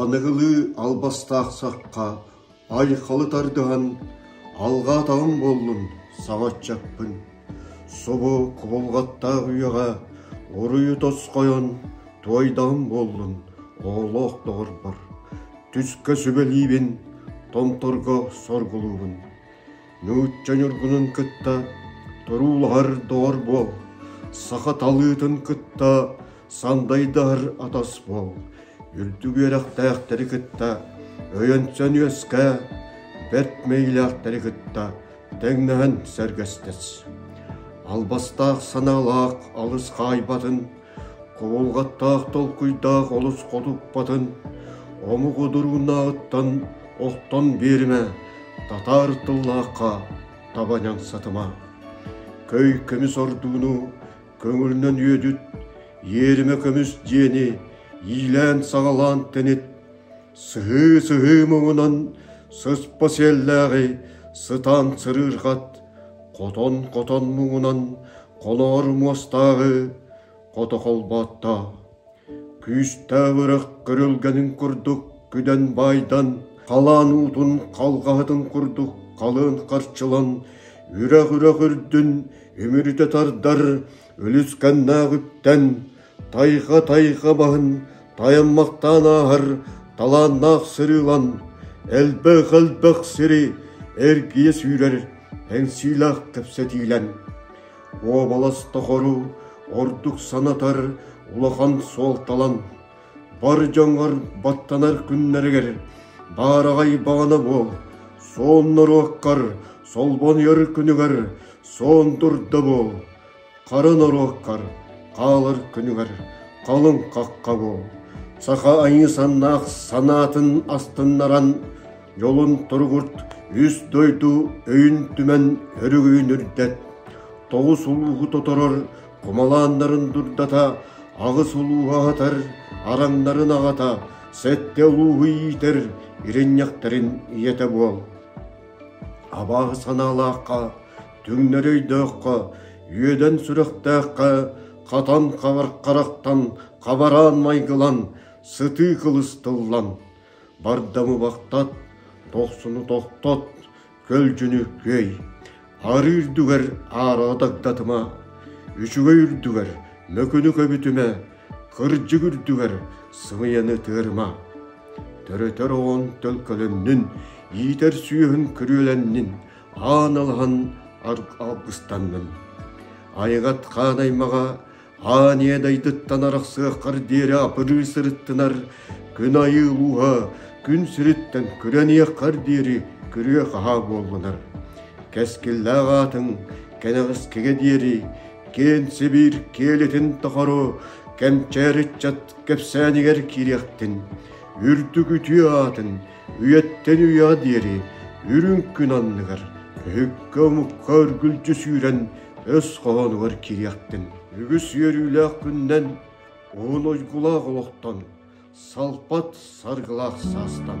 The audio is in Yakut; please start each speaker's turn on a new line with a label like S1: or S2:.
S1: Аныгылыы албастаах сахха айхалы тардыһан алҕаатаҕым буоллун саҥаччаппын, субу кубулҕаттаах үйэҕэ уруйу тосхойон туойдаҕым буоллун оҕолоох доҕорбор, түскэ сүбэлиибин, томторго соргулуубун. нуучча ньургунун кытта туруулаһар доҕор буол, саха талыытын кытта сандайдаһар атас буол, үрдүк үөрэхтээхтэри кытта өйөнсөн үөскээ, бэрт мэйилээхтэри кытта тэҥнэһэн сэргэстэс. Албастаах санаалаах алыс хаайбатын Кубулҕаттаах толкуйдаах олус хотуппатын омук удурунааҕыттан охтон биэримэ, татаар тыллаахха таба ньаҥсатыма. Көй көмүс ордууну көҥүлүнэн үөдүт, иэримэ көмүс диэни иилээн-саҕалаан тэнит, Сыһыы-сыһыы муҥунан сыспа сиэллээҕи сытаан сырыырҕат, хотон-хотон муҥунан холоор муостааҕы хото холбооттоо. Күүстээх үрэх көрүлгэнин курдук күдэн баайдан, халаан уутун халҕаһытын курдук халыан харчылан, үрэх-үрэх үрдүн үмүрүтэ тардар Үлүскэннээҕиттэн тайҕа-тайҕа баһын тайаммахтаан ааһар талааннаах сырыылан элбэх-элбэх сири эргийэ сүүрэр эҥсиилээх кэпсэтиилэн уобалас тохору ордук санатар улахан суолталан бар дьоҥҥор баттанар күннэригэр баараҕай баҕана буол суон норуоккар солбонуйар күнүгэр суон турда буол хара норуоккар хаалар күнүгэр халыҥ хахха буол саха айыы саннаах санаатын астыннаран дьолун туругурт үс дойду өйүн түмэн өрүгүйүн үрдэт тоҕус улууһу тоторор хомолааннарын дурдата, аҕыс улууһа аһатар, араҥнарын аҕата, сэттэ улууһу иитэр, иринньэхтэрин ийэтэ буол. Абааһы санаалаахха, түҥнэр өйдөөххө, үөдэн сүрэхтээххэ, хатан хабар харахтан, хабараан майгылан, сытыы кылыс тыллан, бардамы бахтат, тохсуну тохтот, көлдьүнүккүөй, арыы үрдүгэр аараҕа дагдатыма, үчүгэй үрдүгэр мөкүнү көбүтүмэ, кырдьык үрдүгэр сымыйаны тыарыма. Төрөтөр оҕон төлкөлөннүн, иитэр сүөһүн күрүөлэннин, аан алаһан аргыстаннын. Айыгат хаан аймаҕа Аан ийэ дайдыттан арахсыаххар диэри апырыы сырыттынар күн айыы ууһа күн сириттэн күрэниэххэр диэри күрүө-хаһаа буоллунар. Кэскиллээх аатыҥ кэнэҕэскигэ диэри киэн Сибиир киэлитин тохоро кэмчээр ыччат кэпсээнигэр киириэхтин. Үрдүк үтүө аатын үйэттэн үйэҕэ диэри үрүҥ күн анныгар өһүккэ-омукка өргүлдьү сүүрэн өс хоһоонугар кириэхтин. Үгүс үөрүүлээх күннэн уһун ойгулаах олохтон, салпат саргылаах саастан.